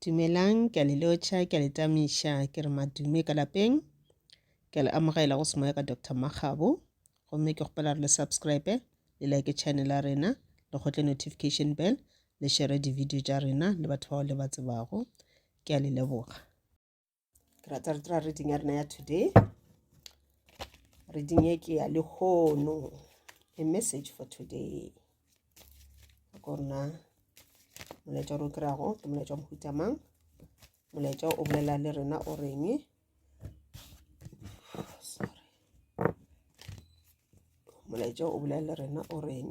Dumelang, ke a le lotšha, ke a le tamiša, ke re madume ka lapeng. Ke a le amogela go semoya ka Doctor Makgabo. Gomme ke kgopela re le subscribe, le like channel ya rena, le kgotle notification bell, le share di-video tša rena le batho bao le ba tsebago. Ke a le leboga. ke rata re dira reading ya rena ya today reading e ke ya lehono a message for today ko rena molaetša ro kry-ago ke molaetša mohuta mang molaetša o bolela le rena o reng molaetša o bolela le rena o reng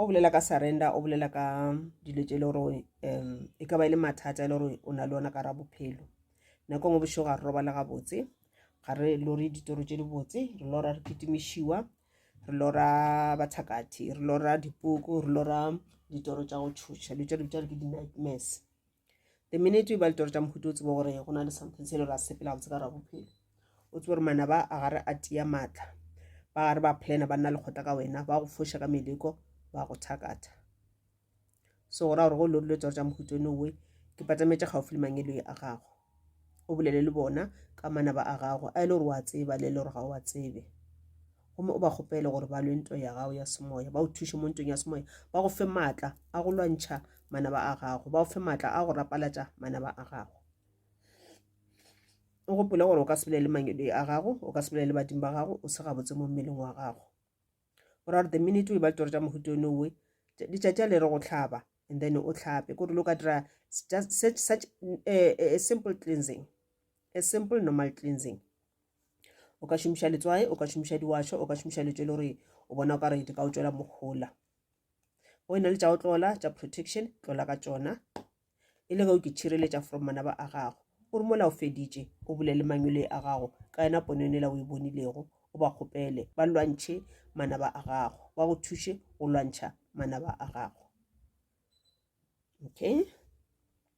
o bolela ka surrender o bolela ka dilo tše e le gore um e ka ba e le mathata e le gore o na le ona ka ra bophelo nako ngwe bošego ga re robala gabotse ga re lore ditoro tše dibotse re lora re kitimišiwa re lora bathakathi re lora dipuku re lora ditoro tša go tšhoša dilo tša dilo tša re ke di-nightmares the minute o ba litoro tša mohuta o tsebe gore go na le something se e le gore a sepela botse ka ra bophelo o tsebe gore manaba a gare a tia maatla ba gare ba plana ba nna lekgotla ka wena ba go foša ka meleko ba go thakatha so go ra gore go lo dilo tsoro tša mohuta one owe ke patametša gaufi le mangeloi a gago o bolele le bona ka manaba a gago a e le gore wa tseba le e le gore ga o wa tsebe gomme o ba kgopele gore ba lwe ntwa ya gago ya semoya ba o thuše mo ntweng ya semoya ba go fe maatla a go lwantšha manaba a gago ba go fe maatla a go rapalatša manaba a gago o gopole gore o ka sebele le mangedwe a gago o ka sebele le badimo ba gago o se gabotse mo mmeleng wa gago o ra gore the minute o e ba ditoro tša mohuto one owe ditšatši a le re go tlhaba and then o tlhape ko re lo ka dira such, such uh, a simple cleansing a simple normal cleansing o ka šomiša letswae o ka šomiša diwašo o ka šomiša letswe le gore o bona o ka re di ka o tswela mogola o e na le tša go tlola tša protection tlola ka tšona e le ge o ke tšhireletša from manaba a gago o re mola o feditše o bolele mangwele a gago ka yena pono yone la o e bonilego o ba kgopele ba lwantšhe manaba a gago ba go thuše go lwantšha manaba a gago okay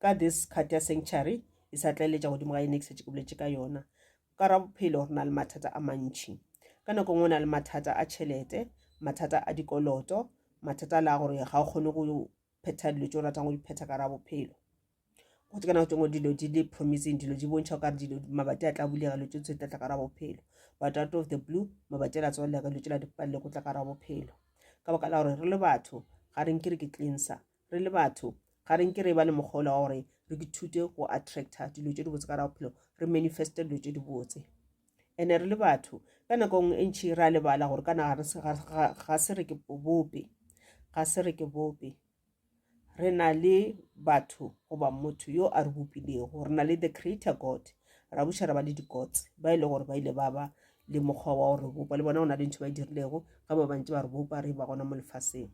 Ka this card ya sanctuary e sa tlaeletša godimo ga ene ke setse ke boletše ka yona ka ra bophelo re na le mathata a mantšhi ka nako nngwe na le mathata a tšhelete mathata a dikoloto mathata a la gore ga o kgone go phetha dilo tse o ratang go di phetha ka ra bophelo go tse ka nako tengwe dilo di le promising dilo di bontšha ka dilo mabati a tla bulega lo tse tla tla ka ra bophelo but out of the blue mabati a la tswalela ka lo tse la dipalele go tla ka ra bophelo ka baka la gore re le batho ga re nke re ke cleanser re le batho ga re nke re ba le mokgolo wa gore re ke thute go attracta dilo tse dibotse ka ra bophelo re manifeste dilo tse dibotse ene re le batho ka nako nngwe e ntšhi ra lebala gore kana ga se re ke bope ga se re ke bope re na le batho goba motho yo a re bopilego re na le the creator god ra buša ra ba le di-gods ba e le gore ba ile ba ba le mokgwa wa gore bopa le bona go na le ntho ba e dirilego ga ba bantse ba re bopa re ba gona mo lefaseng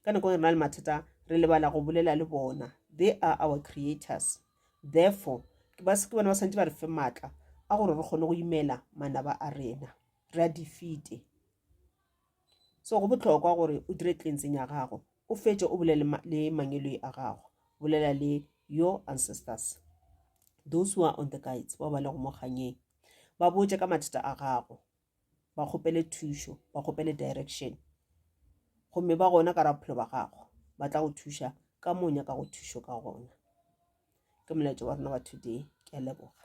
ka nako re na le mathata re lebala go bolela le bona they are our creators therefore ke ba seke bana ba santse ba re fe maatla a gore re kgone go imela manaba a rena re a defeate so go botlhokwa gore o dire cleansing ya gago o fetse o bolele le mangeloi a gago bolela le your ancestors those who are on the guides ba ba le go mo kganyeng ba botse ka mathata a gago ba kgopele thušo ba kgopele direction gomme ba gona ka raphelo ba gago ba tla go thuša ka mo nyaka go thušo ka gona ke molaetša wa rona wa today ke a leboga